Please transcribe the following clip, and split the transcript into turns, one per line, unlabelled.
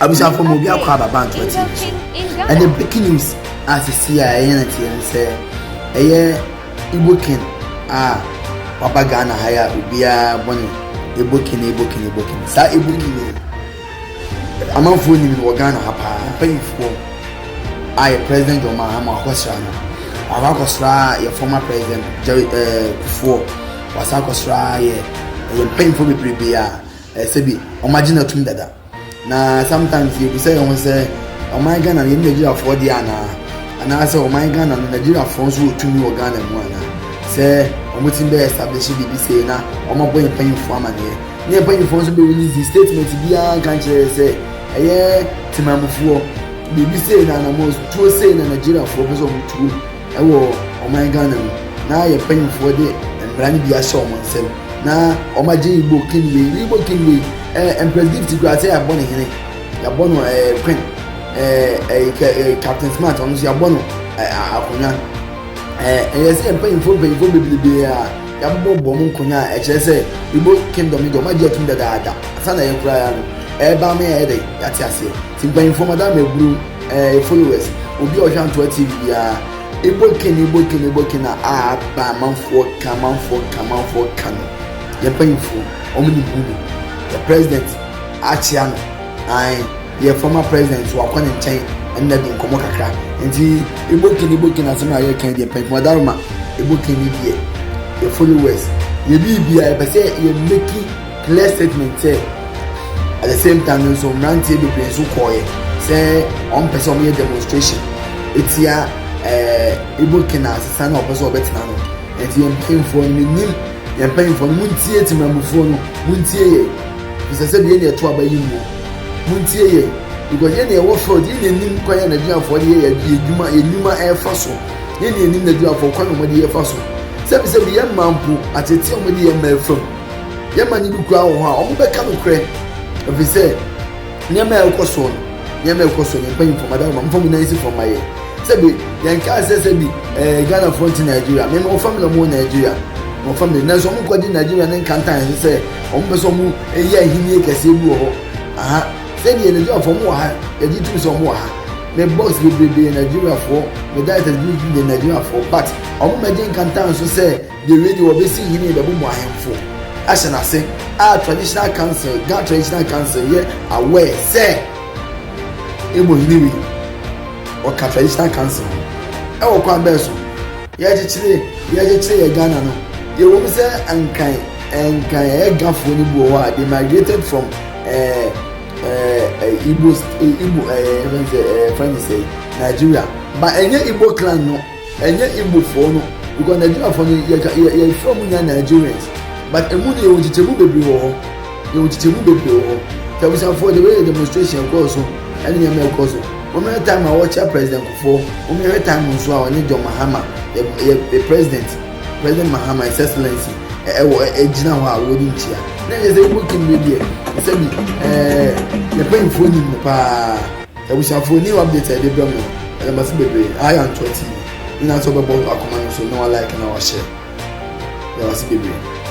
Abusuafo mu obi akɔ aba bank wɔ TV so. Ɛne breaking news a sisi a ɛyɛ na teɛ sɛ ɛyɛ Igbo king a waba Ghana ha ya obiara bɔ ne Igbo king Igbo king Igbo king. Saa Igbo king yi amanfoɔ nim no wɔ Ghana ha paa mpanyinfoɔ a yɛ president John Mahama akɔsra no. Wakɔ akɔsra yɛ former president Jerry ɛɛ eh, Kufuor. Wasa akɔsra yɛ ɛyɛ mpanyinfoɔ bebrebe a ɛsɛ bi wɔn agye na tum dada. Na sometimes yɛ bisa yɛn ho sɛ ɔman Ghana no yɛ ne Nigeriafoɔ deɛ anaa anaasɛ ɔman Ghana no Nigeriafoɔ nso wɔ tumi wɔ Ghana mu anaa sɛ wɔtumi bɛ establish biribi sei na wɔabɔ yɛn mpanyinfoɔ amaneɛ ne mpanyinfoɔ nso bɛ release statement biara nka nkyerɛ yɛ sɛ ɛyɛ temamufoɔ biribi sei na anamɔ tuo sei na Nigeriafoɔ pɛ sɛ wɔtuo Wɔ ɔman Ghana mu na yɛn mpanyinfoɔ de mmara no bi ahyɛ wɔn nsam na wɔn agye Igbo king wei ne Igbo king wei ɛɛ eh, mpredict kura sɛ yɛabɔ ne hene yɛabɔ no ɛɛ eh, queen ɛɛ eh, ɛɛ captain smart ɔno nso yɛabɔ no ɛɛ akonnwa ɛɛ ɛyɛ sɛ yɛn mpanyinfoɔ mpanyinfoɔ bebrebe a yɛabɔ bɔ mu nkonnwa a ɛkyerɛ sɛ Igbo kingdom no deɛ wɔn agye atum dadaada asan na yɛn koraa no ɛɛba ama yɛayɛ dɛ yɛate aseɛ. Mpanyimfo, Madam Aburum, eh, e followers, obi a ɔhwɛ Antoa TV biara, ebo ken, ebo ken, ebo ken a a aba amanfoɔ ka, amanfoɔ ka, amanfoɔ ka no, yɛn mpanyimfoɔ, wɔn nim ho bi. Yɛ president akyea no, ae, yɛ former president so wakɔ ne nkyɛn ɛnna di nkɔmmɔ kakra. Nti, ebo ken, ebo ken asɛm a yɛka deɛ mpanyimfo, Madam Roma, ebo ken ne deɛ, yɛ followers, yɛ biribi a yɛpɛ sɛ yɛ make clear statement sɛ at the same time no nso mmeranteɛ bebree nso kɔɔeɛ sɛ wɔmpɛ sɛ wɔyɛ demonstration ɛtia ɛɛ ibo kena asesa na wɔpɛ sɛ wɔbɛtena no ɛnti yɛn mpanyinfoɔ no menim yɛn mpanyinfoɔ no montie timamufoɔ no montie yɛ bisɛ sɛ deɛ yɛn ɛto aba yi mu montie yɛ because yɛn deɛ ɛwɔ field yɛn deɛ nim kwan yɛ nigeriafoɔ deɛ yɛ yɛ adwuma yɛ nnwuma ɛrefa so yɛn deɛ nim nigeriafoɔ kwan na wɔde yɛfa so sɛbisɛbi yɛn mmaa mpo atete wɔn de yɛn mmaa fam. Yɛn mma no bi koraa wɔ hɔ a, wɔbɛka nokorɛ, efisɛ nneɛma a ɛrekɔ soɔ no, nneɛma a ɛrekɔ soɔ no, yɛn mpanyinfoɔ, madam, mfa mo nan si fam ma yɛn. Sɛbi, yɛn kaa sɛ sɛbi ɛɛ Ghanafoɔ nte Nigeria. Me, mewɔ family a wɔwɔ Nigeria. Mewɔ family, nanso wɔn kɔgye Nigeria ne nkantan so sɛ wɔn pɛ sɛ wɔn yɛ ahennie kɛseɛ bi wɔ hɔ. Aha, sɛbi yɛ Nigeriafoɔ, wɔn wɔ ha, yɛgye tum sɛ wɔn wɔ ha. Me boss bebrebe yɛ Nigeriafoɔ, me directors bi yɛ Nigeriafoɔ, but wɔn mmɛgye nkantan so sɛ. Deɛ wei deɛ wɔbɛsi hene bɛbɔ mu ahemfo ahyɛ n'ase a traditional council Ghana traditional council yɛ aware sɛ ɛbɔ hene wei ɔka traditional council ho ɛwɔ kwan bɛɛ so yɛkyekyere yɛkyekyere yɛ Ghana no yɛwɔ mu sɛ nkan nkan ɛyɛ gafoɔ no bi wɔ hɔ a they migrated from ɛɛ ɛɛ Igbo Igbo ɛɛ ɛfɛn sɛ ɛɛ fɛn sɛ Nigeria ba ɛnyɛ Igbo clan no. Ɛnyɛ Igbo foɔ no because Nigeria foɔ no yɛ ka yɛ yɛfrɛ wɔn nyinaa Nigerians but emu no yɛwɔ nkyekyɛmu bebree wɔ hɔ yɛwɔ nkyekyɛmu bebree wɔ hɔ nti abusuafoɔ the way demonstration ɛkɔɔ so ɛne nneɛma ɛkɔ so wɔn yɛ time a wɔkyɛ president kufoɔ wɔn yɛ time nso a wɔne John Mahama yɛ yɛ yɛ president president Mahama his excellency ɛwɔ ɛgyina hɔ a wɔde nkyia na yɛ sɛ Igbo king no deɛ sɛbi ɛɛ yɛ panyinfoɔ nim no paa. Abusuafoɔ new update a yɛde brɛ mo no yɛda mo ase bebree aha yɛ Antoa TV nyinaa sɛ wobɛbɔ akoma no so na wa like na wa share yɛda mo ase bebree.